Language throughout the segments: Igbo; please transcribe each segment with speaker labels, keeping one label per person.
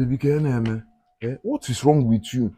Speaker 1: Baby, kee ihe na-eme? Eh, what is wrong with you?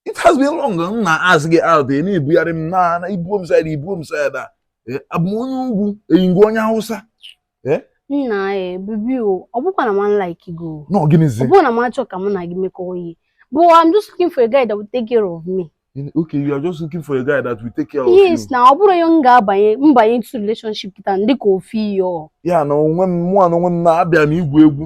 Speaker 1: It has been long m na-ask gị out ị na-ebugharị m na na ibuo m side a ibuo m side a abụ m onye ugwu eyi ngwa onye Hausa eh? nna
Speaker 2: e baby o ọ bụkwa na m like gị o no gịnịzi ọ bụrọ na
Speaker 1: m achọrọ ka mụ
Speaker 2: na gị mekọọ ihe but I'm just looking for a guy that will take care of me okay you are
Speaker 1: just looking for a guy that will take care of you yes na ọ bụrụ ya m
Speaker 2: ga-abanye mbanye into relationship kịta m take care of you ya na onwe m mụ
Speaker 1: na onwe m na-abịa na igwu egwu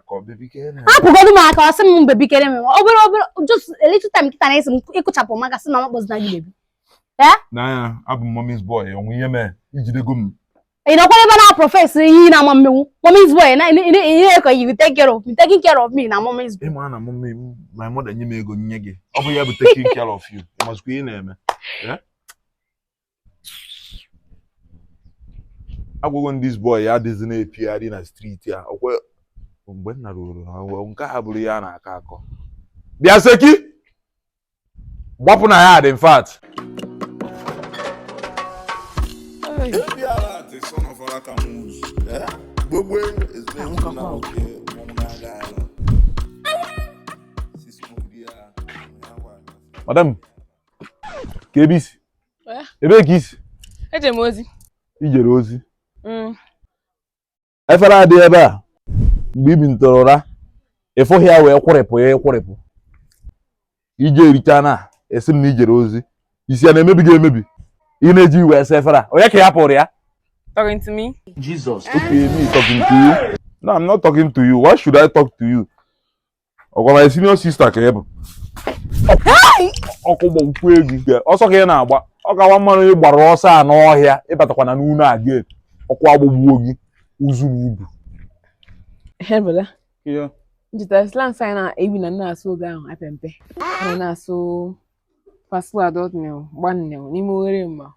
Speaker 1: hapụgodu m aka
Speaker 2: asị m baby chere m obere obere just a little time kịta na-esi m ịkụchapụ maka sị na ọ kpọzina gị baby na
Speaker 1: abụ m mommy's boy o nwe ihe mee ijidego m ị nọkwara ebe na
Speaker 2: profess ihe na ị ma-emenwu mommy's boy na-akọ you take care of me taking care of me na mommy's boy ịma na mommy my
Speaker 1: mother nye m ego nye gị ọ bụ ya bụ taking care of you ịmazikwa ihe na-eme aghụghọ ndị boy a adịzi na-epigharị na street a ọ kwa mgbe nna ruru ha nke ha bụrụ ya na-akọ akọ bịa seki gbapụ na ya dị in fact gbogbo madam kee ebe isi eh? ebee ka isi eje m
Speaker 3: ozi ijere
Speaker 1: ozi mm. efere adị ebe a mgbe ibinitere ụra ịfụghị ya wee kwụrịpụ ya ịkwụrịpụ ijegharịchaa na-asị m na ijere ozi isi ya na-emebi gị emebi ị na-eji iwe asa efere a onye ka ị hapụrụ ya talking to me
Speaker 3: Jesus okay
Speaker 1: me talking to you no I'm not talking to you why should I talk to you ọ kwa my senior sister ka ị bụ ọkụ gbagbukwe gị o nke ọsọ ka ị na-agba ọ ga-aka mma na ị gbara ọsọ a n'ọhịa ịbatakwa n'ụlọ a again ọkụ agbagbuo gị uzu na
Speaker 3: ibu Hebele.
Speaker 1: Ihe. Ncheta
Speaker 3: slangs anyị na-ebi na na-asụ oge ahụ anyị pe mpe. Anyị na-asụ paswa dọtnil gbanil n'ime oghere mma.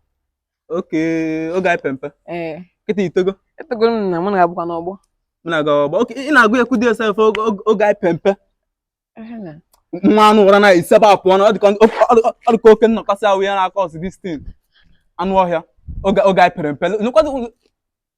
Speaker 4: okay oge anyị pe mpe ee kịta itogo etogo m na
Speaker 3: mụ na-abụkwa n'ọgbọ mụ na-aga ọgbọ
Speaker 4: okay ị na-aga ekwudi sef oge oge- oge anyị pe
Speaker 3: mpe Ehe na. nwa anụ
Speaker 4: ụra na isi ebe a pụọ na ọ dịka ọ dịka- ọ dịka oke nnọkọsị ahụ ya na-akọ ọsị distin anụ ọhịa oge oge anyị pere mpe nụkwazi